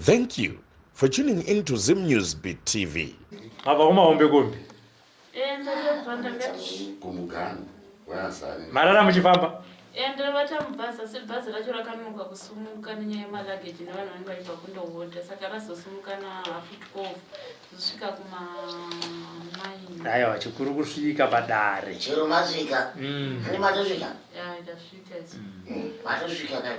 Thank you for tuning in to Zim News Beat TV. Ava uma hombe kombi. Eh, Marara muchifamba. Ende eh, vachamubhaza se bhazi racho rakanonoka kusumuka nenyaya yemalageji nevanhu vanenge vaibva kundohodha saka razosumuka na half twelve zosvika kuma nine. Aiwa chikuru kusvika padare. Chero masvika. Mm. Matosvika. Yeah, itasvika. Mm. Matosvika kai.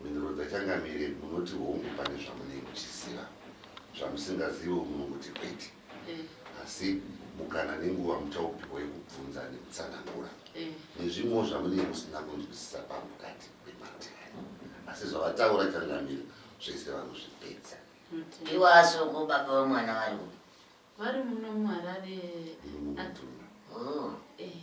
Mhinduro dzaChangamire, Munoti hongu pane zvamunenge muchiziva, zvamusingazivewo munongoti kwete. Asi mukana nenguva muchaupihwa yekubvunza nekutsanangura nezvimwewo zvamunenge musina kunzwisisa pamukati pemate aya. Asi zvavataura Changamire zvese vanozvipedza. Ivo asoko baba vemwana varikupi? Vari muno muHarare. Muno muMutundwa. Oh. Eh.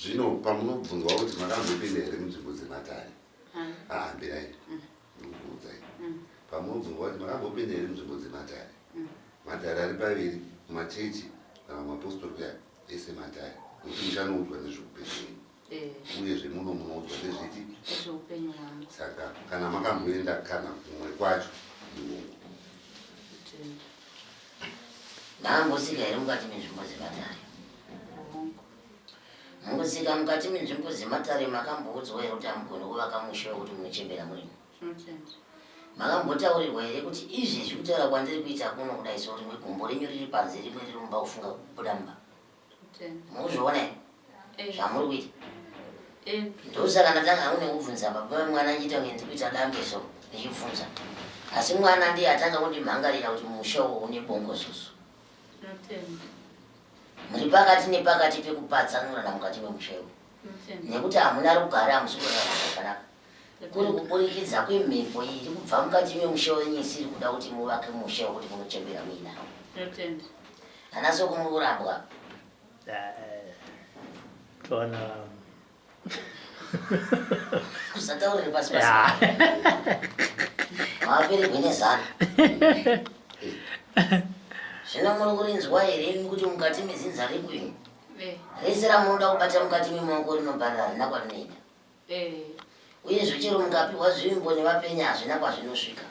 zvino pamunobvunzwa kuti makambopinda here munzvimbo dzematare ahambirai ah, ah, mm. ndikukuudzai mm. pamunobvunzwa kuti makambopinda here munzvimbo dzematare mm. matare ari paviri machechi navamapostori kuya ese matare nokuti muchanoudzwa nezvekupeii uyezve muno munoudzwa nezviti zveupenyu hwangu saka kana makamboenda kana kumwe kwacho ndiwongo kutenda Mangosika here mukati menzvimbo dzematare? hongu Mangosika mukati menzvimbo dzematare makamboudzwa here kuti hamugoni kuvaka musha wekuti munochembera murimo? zvinotenda Makambotaurirwa here kuti izvezvi kutaura kwandiri kuita kuno kudai sorimwe gumbo renyu riri panze rimwe riri mumba kufunga kubuda mumba? muzviona here eh. zvamuri kuita eh. ndosaka ndatanga hangu nekubvunza baba vemwana achiita kunge ndiri kuita dambe so ndichibvunza asi mwana ndiye atanga kundimhangarira kuti musha uwo une bongozozo muri pakati nepakati pekupatsanurana mukati memusha iwo nekuti hamuna rugare hamusi kurarama zvakanaka Kuri kuburikidza kwemhepo iyi iri kubva mukati memusha wenyu isiri kuda kuti muvake musha wekuti munochembera muina. Ndotenda. Ana soko muri kurambwa. Eh, Tona. Kusataurira pasi pasi. Mawapererwe nezano. Zvino muri kurinzwa here imi kuti mukati mezinza rekwenu Eh, rese ramunoda kubata mukati memaoko rinobva rarina kwarinoenda. Uyezve, chero mukapihwa zvimbo nevapenyu hazvina kwazvinosvika.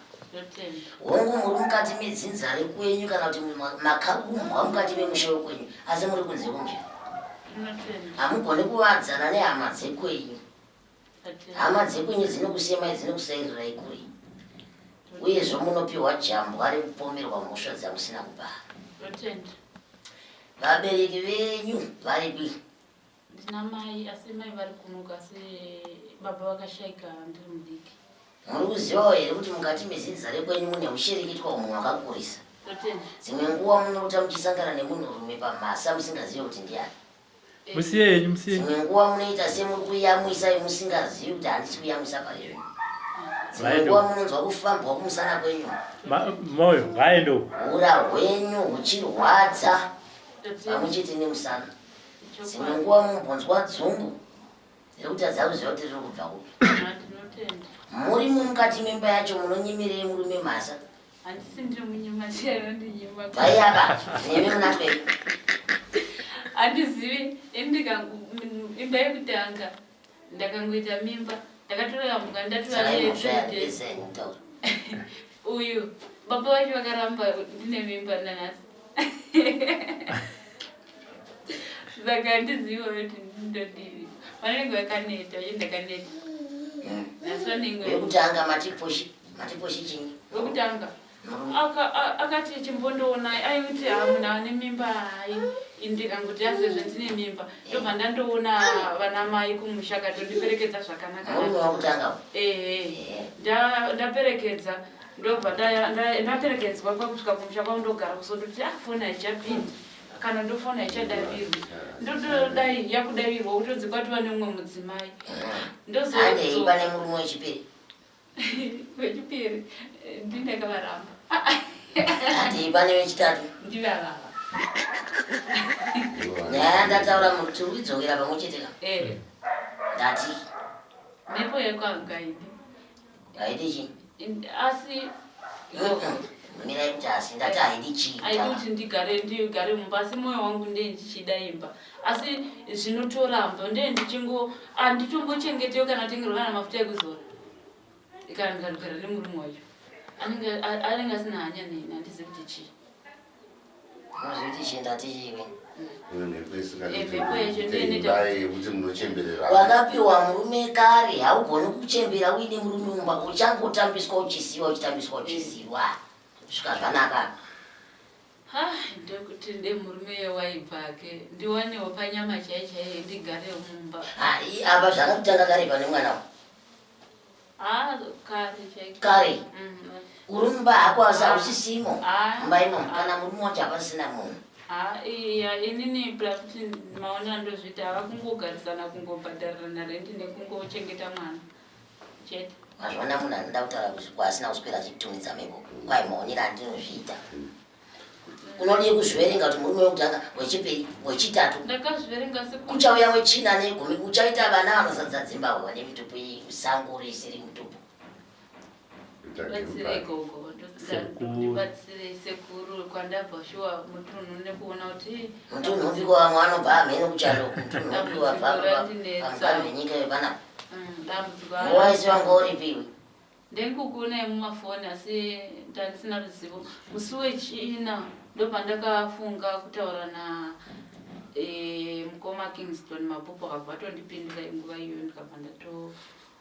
Hongu, muri mukati medzinza rekwenyu kana kuti makaumbwa mukati memusha wekwenyu, asi muri kunze kwomuzvina. Hamugoni kuvadzana nehama dzekwenyu. Hama dzekwenyu dzinokusemai, dzinokusairirai kure. Uyezve, munopiwa jambwa rekupomerwa mhosva dzamusina kubara. Vabereki venyu varipi? Ndina mai asi mai vari kunoku asi baba vakashaika ndiri mudiki. Muri kuzivawo here kuti mukati mezinza rekwenyu mune hushirikitwa umunhu wakakurisa? Dzimwe nguva munorota muchisangana nemunhurume pamhasa musingazive kuti ndiani. Musiye henyu, musiye. Dzimwe nguva munoita semuri kuyamwisa musingazivi kuti handisi kuyamwisa pari zvinhu. Dzimwe nguva munonzwa kufambwa kumusana kwenyu. Moyo, ngaende uko. Hura hwenyu huchirwadza pamwe chete nemusana. dzimwe nguva mumbonzwa dzungu rekutadza kuziva kuti riri kubva kupi muri mumukati memba yacho munonyimirei murume mhasa handisi ndiri munyima chero ndinyima vaiapa nemi munapei handizivi imba yekutanga ndakangoita mimba ndakatoyambuka ndatouyaeeese uyu baba vacho vakaramba ndine mimba nanhasi saka handiziva kuti ndodii vanenge vakaneta uye ndakaneta mm. asi vanenge vekutanga matiposhi matiposhi chinyi vekutanga Aka, akati chimbondoonai aimti haa munhu ane mimba hai ndikangoti yasezve ndine mimba ndobva ndandoona vana mai kumusha katondiperekedza zvakanaka ehe ndaperekedza ndobva ndaperekedzwa kwakusvika kumusha kwavo ndogara kusondoti ah foni haichapindi kana ndofona haichadavirwi ndotodai yakudavirwa kutodzi kwatova neumwe mudzimai ndozoiva nemurume wechipiri vechipiri ndini ndakavaramba ati pane vechitatu ndivavava nyaya yandataura muti uidzokera pamwe cheteka eh. ndati mhepo yekwangaidi aidi chi asi mira kuti asi ndati aidi chii aidi kuti ndigare ndigare mumba asi moyo wangu ndee ndichida imba Asi zvinotoramba ndiye ndichingo anditombochengetiwe kana kutengerwa kana mafuta ekuzora kana ndikarugara nemurume wacho anenge asina hanya neni handizi kuti chii unozviti chienda tiiwe wakapiwa murume kare haugoni kuchembera uine murume mumba uchangotambiswa uchisiwa uchitambiswa uchisiwa svika zvanaka Haa ndokuti ndee murume uyo waibva hake ndiwanewo panyama chaiyo chaiyo ndigarewo mumba. Haa ii apa zvakatotanga kare pane mwana uyu. Haa kare chaiko. Kare. Mm. Uri mumba hako asi hausisimo. Haa. Mumba imomo kana murume wacho hapasina munhu. Haa iya inini kuti maona ndozviita hava kungogarisana kungobhadharirana rent nekungochengeta mwana. mazvona munhu anoda kutaura kuzvikwa asina kuswera achitumidza mhepo kwai maonera andinozviita unodii kuzviverenga kuti murume wekutanga wechipiri wechitatu kuchauya wechina negumi uchaita vana vanozadza dzimba hova nemitupu iyi musango risiri mutupu Batsire gogo ndibatsire sekuru kwandabva shuwa mutunhu nekuona kuti mutunhu upi kwamwe anobva amhene kuchando mutunhu upi wabvapamukani venyika vepanapa dambudziko waisi wanga uripi iwe ndekukuonai mumafoni asi ndandisina ruzivo musi wechina ndopandakafunga kutaura na e, mukoma kingston mabhuku akabva atondipindura inguva iyoyo ndikabva ndato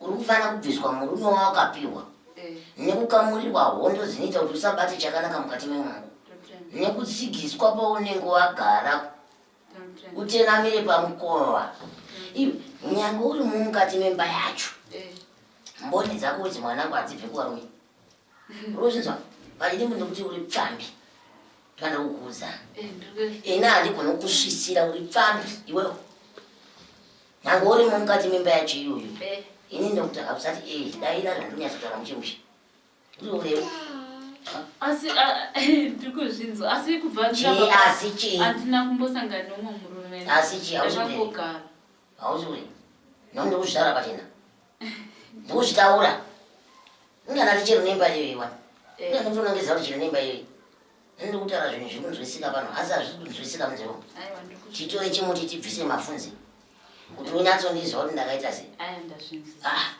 Uri kufana kubviswa murume wawakapihwa nekukamurirwa hondo dzinoita kuti usabate chakanaka mukati memwangu nekutsigiswa paunenge wagara utenamire pamukova iwe nyange uri mumukati memba yacho mboni dzako udzi mwanangu hadzibve kuvarume Unozinzwa vaidi munhu kuti uri pfambi kana kukuudza ini handigona kusvisira uri pfambi iwewo nyange urimo mukati memba yacho iyoyo ini ndokuti hausati e daira zvandonyatsotaura muchemushe uri urewo asi ndiri kuzvinzwa asi kubva asi chii handina kumbosangana nomwe murume asi chii hauziure hauziure nondokuzvara pachena Ndozvitaura. Ndana tichero nemba iyo iwa. Eh. Ndana ndona ngeza kuti nemba iyo. Ndino kutara zvinhu zviri kunzwisika pano. Asi hazviri kunzwisika muzero. Aiwa ndikuti. Titore chimuti tibvise mafunzi. Kuti unyatso ndizwa kuti ndakaita sei. Aiwa ndazvinzwisisa. Ah.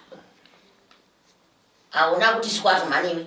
Auna kuti squat mhani iwe.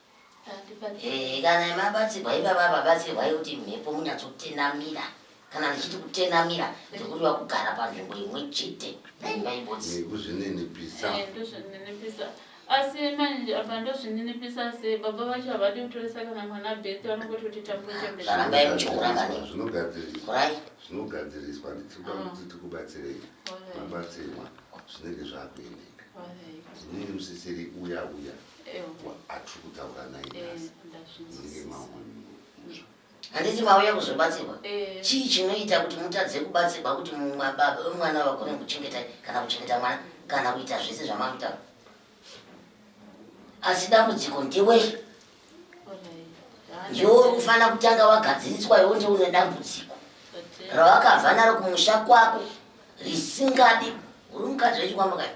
Eh, kana mabatsirwa ivava vabatsirwai kuti mhepo munyatsotenamira kana ndichiti kutenamira ndikudiwa kugara panzvimbo imwe chete naibodzikuzvininipisa eh, eh, asi manje apa ndozvininipisa se baba vacho havadi kutoresa kana mwana beti vanongoti kuti tambochembearambai muchiuranganorai zvinogadziriswa nditikuda ah. kuti tikubatsirei mabatsirwa zvinenge zvakuendeka inini musisiri uya uya atiri kutaura naye nhasi munenge mamwe muzva handiti mauya kuzobatsirwa eh. chii chinoita kuti mutadze kubatsirwa kuti baba vemwana vagone kuchengeta kana kuchengeta mwana kana kuita zvese zvamamutaura asi dambudziko ndewei ndiwo uri kufanira kutanga wagadziriswa iwo ndiwo une dambudziko rawakabva naro kumusha kwako risingadi uri mukadzi wechikwambo kayo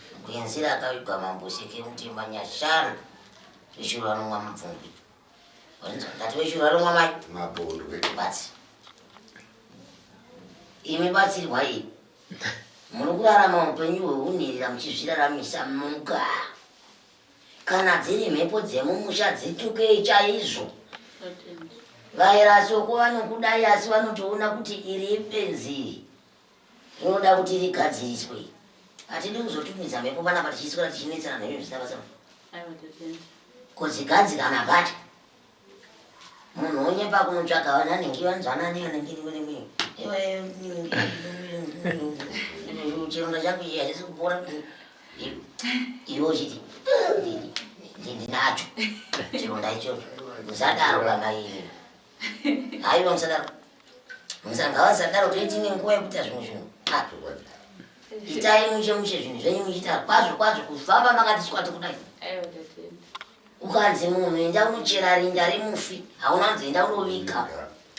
Kuyenzira akavigwa mambo seke mutimba nyashanu veshuru vanomwa mubvungu ngati veshuru vanomwa mai mabondwe batsi imi batsirwa iyi muri kurarama upenyu hwehunhirira muchizviraramisa muga kana dziri mhepo dzemumusha dzitukei chaizvo vairasoko vanokudai asi vanotoona kuti iri ipenzi Inoda kuti rigadziriswe. Hatidi kuzotumidza mhepo panapa tichiswera tichinetsana nhenyu zvisina basa. Kudzigadzikana pacho. Munhu onyepa kunotsvaga wani anenge wanzwanani anenge niwe chironda changu iye hachisi kupora iwe uchiti ndinacho chironda ichocho musadaro baba imi Haiwa musadaro. Musadaro ngavasadaro toiti ne nguva yekuita zvimwe zvinhu. Ah. Itai mushe mushe zvinhu zvenyu muchiita kwazvo kwazvo kufamba makati sikwati kudai. Aiwa tatenda. Ukanzi munhu enda unochera rinda remufi hauna nzi enda unovika.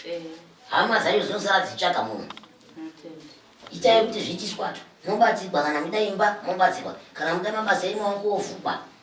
Eh. Hama dzacho dzinosara dzichitsvaga munhu. Tatenda. Itai kuti zviitiswa tu. Mobatsirwa kana muda imba mobatsirwa kana muda mabasa emaoko ovhukwa.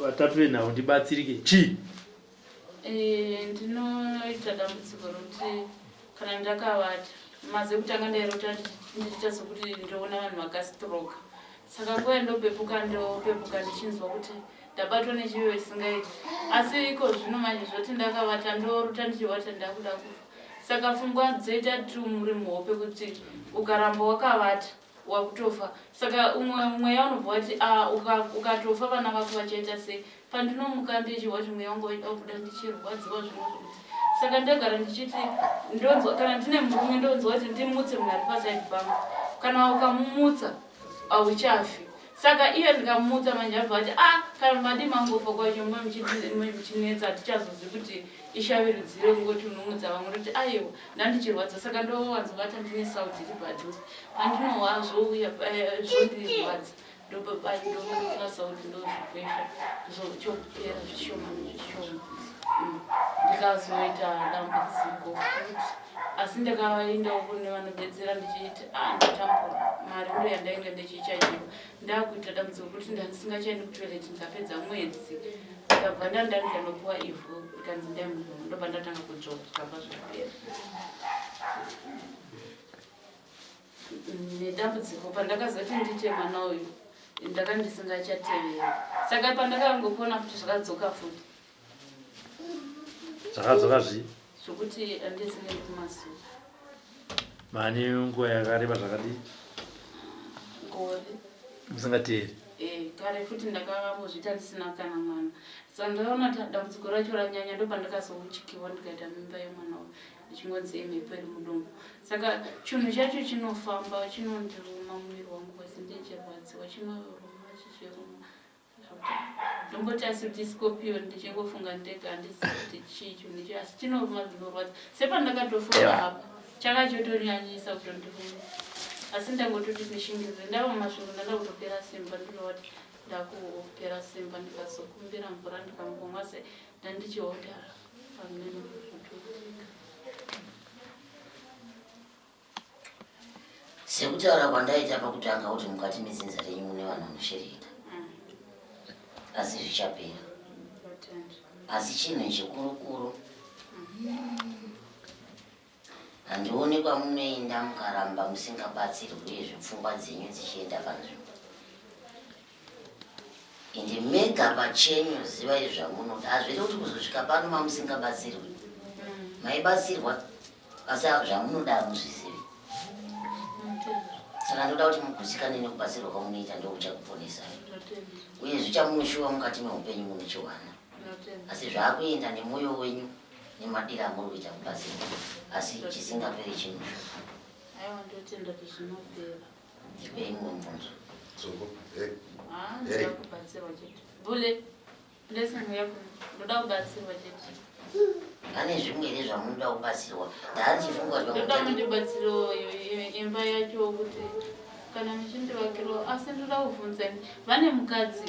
Vatatu venhau ndibatsirike chii? Eh, ndinoita dambudziko rokuti kana ndakavata maze kutanga ndairota ndichiita sokuti ndoona vanhu vakastroka saka nguva yandopepuka ndopepuka ndichinzwa kuti ndabatwa nechiyo isingaiti asi iko zvino manje zvoti ndakavata ndorota ndichivata ndakuda kufa saka pfungwa dzoita tumuri muhope kuti ukaramba wakavata wakutofa saka umwe mweya unobva wati ah, ukatofa uka vana vako vachaita sei pandinomuka ndechihwa kuti mweya wangu waida kubuda ndichirwadziwa zvinoti saka ndagara ndichiti ndonzwa kana ndine murume ndonzwa kuti ndimutse munhu ari paside pangu kana ukamumutsa hauchafi Saka iye ndikamumutsa manje abva ati a ah, kana madi mangofa kwacho mwe muchinetsa hatichazozi kuti ishavi rudziro kungoti unomutsa vamwe roti aiwa ndandichirwadza saka ndowanzobata ndine sauti iri padhuze pandinowa zvouya eh, zvondirwadza ndopapai ndomutsira sauti ndozvikwesha zvochopera zvishoma nezvishoma mm. ndikazoita dambudziko futi asi ndakavaendawo kune vanobetsera ndichiti ah, ndatambura mari ndo yandainge ndichichajiwa ndakuita dambudziko kuti ndandisingachaendi kutoilet ndikapedza mwedzi ndikabva ndandarika ndopiwa ivhu ikanzi ndaimuhu ndobva ndatanga kudzvova zvikabva zvapera nedambudziko pandakazoti ndiite mwana uyu ndaka ndisingachatevera saka pandakangopona futi zvakadzoka futi zvakadzoka zvi zvokuti andisi nekumazuva mani nguva yakareba zvakadii gore musingateeri eh, kare futi ndakambozviita ndisina kana mwana so ndaona kuti dambudziko racho ranyanya ndopandakazouchikiwa ndikaita mimba yemwana uyu ndichingonzi imhepo iri mudumbu saka chinhu chacho chinofamba chinondiruma muviri wangu wese ndichirwadziwa chinoruma chichiruma Ndomboti asi kuti scorpion ndichingofunga ndega handizivi kuti chii icho ndicho asi chinoruma zvinorwadza sepandakatofunga apa chaka chotonyanyisa kutondiruma asi ndangototi ndishingirire ndava mumasvingo ndanga kutopera simba ndinowati ndakupera simba ndikazokumbira mvura ndikambomwa se ndandichihodhara pamene sekutaura kwandaita pakutanga kuti mukati medzinza renyu mune vanhu vanoshereka mm. asi zvichapera asi chinhu chikurukuru handione kwamunoenda mukaramba musingabatsirwi uye zvepfungwa dzenyu dzichienda panzvimbo Ende mega pachenyu zivai zvamunoda hazviri kuti kuzosvika pano mamusingabatsirwi mm. maibatsirwa asi zvamunoda hamuzvizivi saka ndoda kuti mugutsikane nekubatsirwa kwamunoita ndokuchakuponesai uye zvichamunoshuva mukati meupenyu munochiwana asi zvaakuenda nemwoyo wenyu nemadira amuri kuita kubatsirwa asi chisingaperi chinoshuva pane zvimweni zvamunoda kubatsirwa ndaandifungamundibatsiro imba yacho kuti kana muchindivakiro asi ndoda kuvhunza vane mukadzi